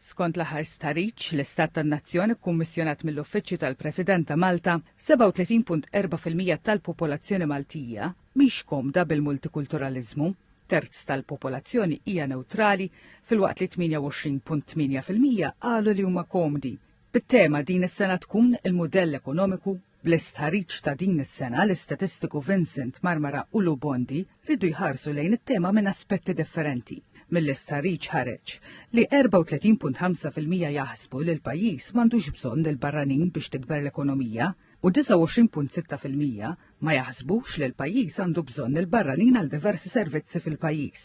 Skont l-aħħar stħarriġ, l-istat tan-nazzjon ikkummissjonat mill-Uffiċċju tal-President ta' Malta, 37.4 fil-mija tal-popolazzjoni Maltija mhix komda bil-multikulturaliżmu, terz tal-popolazzjoni hija newtrali filwaqt li 28.8 fil-mija qalu li huma komdi bit-tema 'Din is-sena tkun il-mudell ekonomiku Bl-istħarriġ ta' din is-sena, l-istatistiku Vincent Marmara u Lou Bondi riedu jħarsu lejn it-tema minn aspetti differenti. Mill-istħarriġ ħareġ li 34.5 fil-mija jaħsbu li l-pajjiż m'għandux bżonn lill-barranin biex tikber l-ekonomija u 29.6 fil-mija ma jaħsbux li l-pajjiż għandu bżonn lill-barranin għal diversi servizzi fil-pajjiż.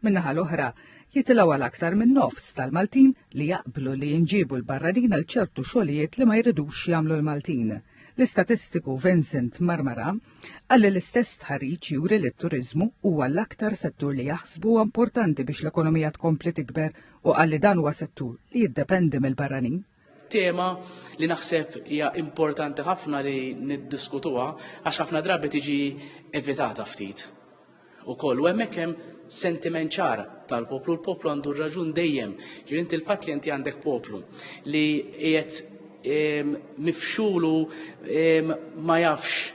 Min-naħa l-oħra, jitilgħu għal aktar minn nofs tal-Maltin li jaqblu li jinġiebu l-barranin għal ċertu xogħlijiet li ma jridux jagħmlu l-Maltin. L-istatistiku Vincent Marmara qal li l-istess stħarriġ juri li t-turiżmu huwa l-aktar settur li jaħsbu huwa importanti biex l-ekonomija tkompli tikber u qal li dan huwa settur li jiddependi mill-barranin. tema li naħseb hija importanti ħafna li niddiskutuha għax ħafna drabi tiġi evitata ftit. U koll, u hemmhekk hemm sentiment ċar tal-poplu, l-poplu għandu raġun dejjem, ġir inti l-fatt li inti għandek poplu li qiegħed ehm, mifxulu ehm, ma jafx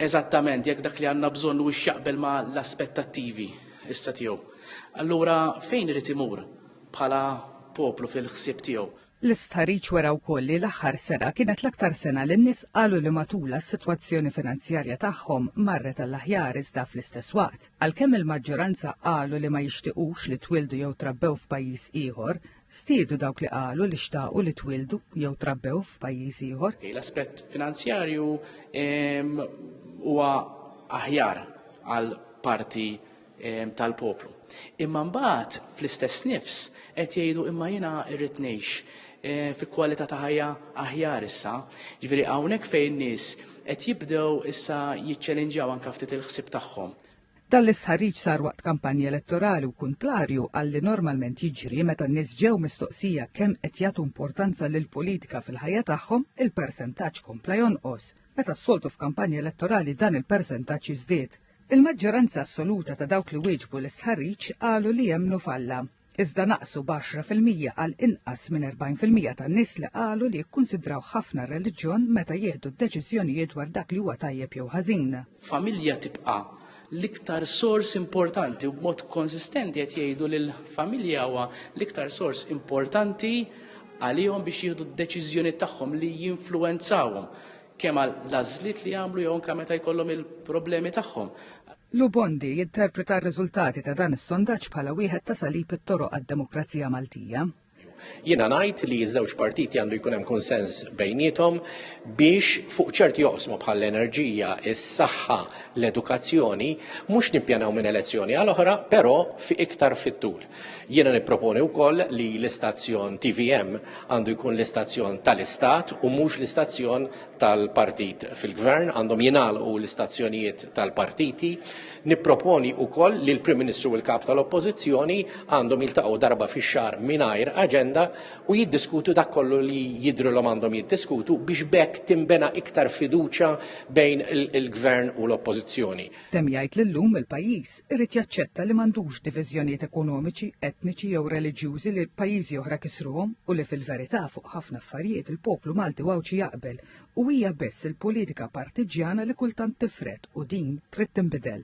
eżattament jekk dak li għandna bżonn u jaqbel ma l-aspettattivi issa tiegħu. Allura fejn irid imur? bħala poplu fil-ħsieb tiegħu. L-istħarriġ wera wkoll li l-aħħar sena kienet l-aktar sena li n-nies qalu li matulha s-sitwazzjoni finanzjarja tagħhom marret għall-aħjar iżda fl-istess waqt. Għalkemm il-maġġoranza qalu li ma jixtiequx li twildu jew trabbew f'pajjiż ieħor, stiedu dawk li qalu li xtaqu li twildu jew trabbew f'pajjiż ieħor. L-aspett finanzjarju huwa aħjar għal parti ehm, tal-poplu. Imma mbagħad fl-istess nifs qed jgħidu imma jiena irrid ngħix eh, fi kwalità ta' ħajja aħjar issa. Ġifieri hawnhekk fejn nies qed jibdew issa jiċċelenġjaw anke ftit il-ħsieb tagħhom. Dan l-istħarriġ sar waqt kampanja elettorali u kuntrarju għalli normalment jiġri meta n-nies ġew mistoqsija kemm qed jagħtu importanza lil politika fil-ħajja tagħhom, il-persentaġġ kompla jonqos. Meta s-soltu f'kampanja elettorali dan il-persentaġġ jiżdied. Il-maġġoranza assoluta ta' dawk li wieġbu l-istħarriġ qalu li jemmnu f'Alla, iżda naqsu b'għaxra fil-mija għal inqas minn erbgħin fil-mija tan-nies li qalu li jikkunsidraw ħafna r-reliġjon meta jieħdu d-deċiżjonijiet dwar dak li huwa tajjeb jew ħażin. Familja tibqa' l-iktar sors importanti u b'mod konsistenti qed jgħidu li l-familja huwa l-iktar sors importanti għalihom biex jieħdu d-deċiżjonijiet tagħhom li jinfluwenzawhom. kemm għal l-għażliet li jagħmlu jew anke meta jkollhom il-problemi tagħhom. Lubondi jinterpreta r-riżultati ta' dan is-sondaġġ bħala wieħed ta' salib it-toroq għad-demokrazija Maltija. Jiena ngħid li ż-żewġ partiti għandu jkun hemm kunsens bejniethom biex fuq ċerti joqsmu bħall-enerġija, is-saħħa, l-edukazzjoni, mhux nippjanaw minn elezzjoni għal oħra, però fi iktar fit-tul. Jiena nipproponi wkoll li l-istazzjon TVM għandu jkun l-istazzjon tal-Istat u mhux l-istazzjon tal-partit fil-gvern, għandhom jingħalqu l-istazzjonijiet tal-partiti. Nipproponi wkoll li l-Prim Ministru u l-Kap tal-Oppożizzjoni għandhom jiltaqgħu darba fix-xahar mingħajr aġenda u jiddiskutu dak kollu li jidhrilhom għandhom jiddiskutu biex b'hekk tinbena iktar fiduċja bejn il-gvern u l-oppożizzjoni. Temm jgħid li llum il-pajjiż irid jaċċetta li m'għandux diviżjonijiet ekonomiċi, etniċi jew reliġjużi li pajjiżi oħra kisruhom u li fil-verità fuq ħafna affarijiet il-poplu Malti u Għawdxi jaqbel u hija biss il-politika partiġġjana li kultant tifred u din trid tinbidel.